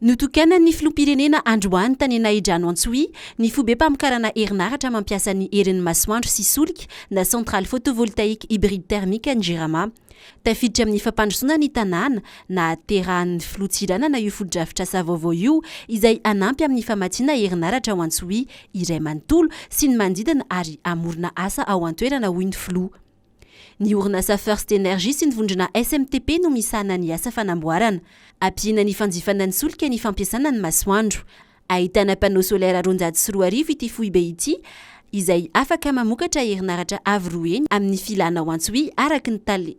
Notokanan'ny filoham-pirenena androany tany Nahidrano Antsohihy ny fobem-pamokarana herinaratra mampiasa ny herin'ny masoandro sy solika na centrale photovoltaïque hybride thermique any Jirama. Tafiditra amin'ny fampandrosoana ny tanàna. Nahaterahan'ny filoha Tsiranana io fotodrafitrasa vaovao io izay hanampy amin'ny famatsiana herinaratra ao Antsohihy iray manontolo sy ny manodidina ary hamorona asa ao an-toerana hoy ny filoha. Ny orinasa First Energy sy ny vondrona SMTP no misahana ny asa fanamboarana. Ampiana ny fanjifana ny solika ny fampiasana ny masoandro. Ahitana panneau solaire roanjato sy roa arivo ity foibe ity izay afaka mamokatra herinaratra avo roa heny amin'ny filana ho antso-y araka ny tale.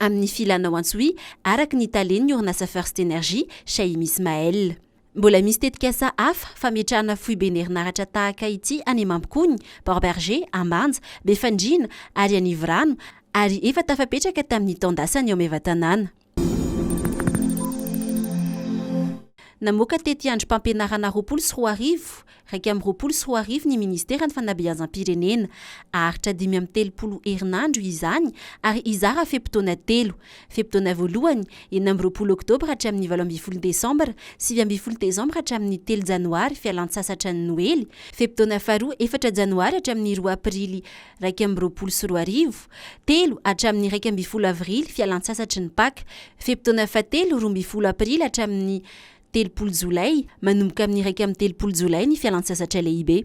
amin'ny filana ao Antsohihy araka ny talen'ny orinasa First Energy, Shahim Ismaël. Mbola misy tetikasa hafa fametrahana foiben' herinaratra tahaka ity any Amambokony, Port Bergé, Ambanja, Befandriana ary Anivorano ary efa tafapetraka tamin'ny taon-dasany ao Maevatanàna. Namoaka tetiandrom-pampianarana roapolo sy roa arivo Iraika amby roapolo sy roa arivo ny Ministeran'ny Fanabeazam-pirenena. Aharitra dimy amby telopolo herinandro izany ary hizara fe-potoana telo. Fe-potoana voalohany, enina amby roapolo oktobra hatramin'ny valo ambin'ny folo desambra, sivy ambin'ny folo desambra hatramin'ny telo janoary, fialan-tsasatra ny Noely. Fe-potoana faharoa, efatra janoary hatramin'ny roa aprily, iraika amby roapolo sy roa arivo, telo hatramin'ny iraika ambin'ny folo avrily, fialan-tsasatry ny Paka. Fe-potoana fahatelo, roa ambin'ny folo aprily hatramin'ny telopolo jolay, manomboka amin'ny iraika amby telopolo jolay ny fialantsasatra lehibe.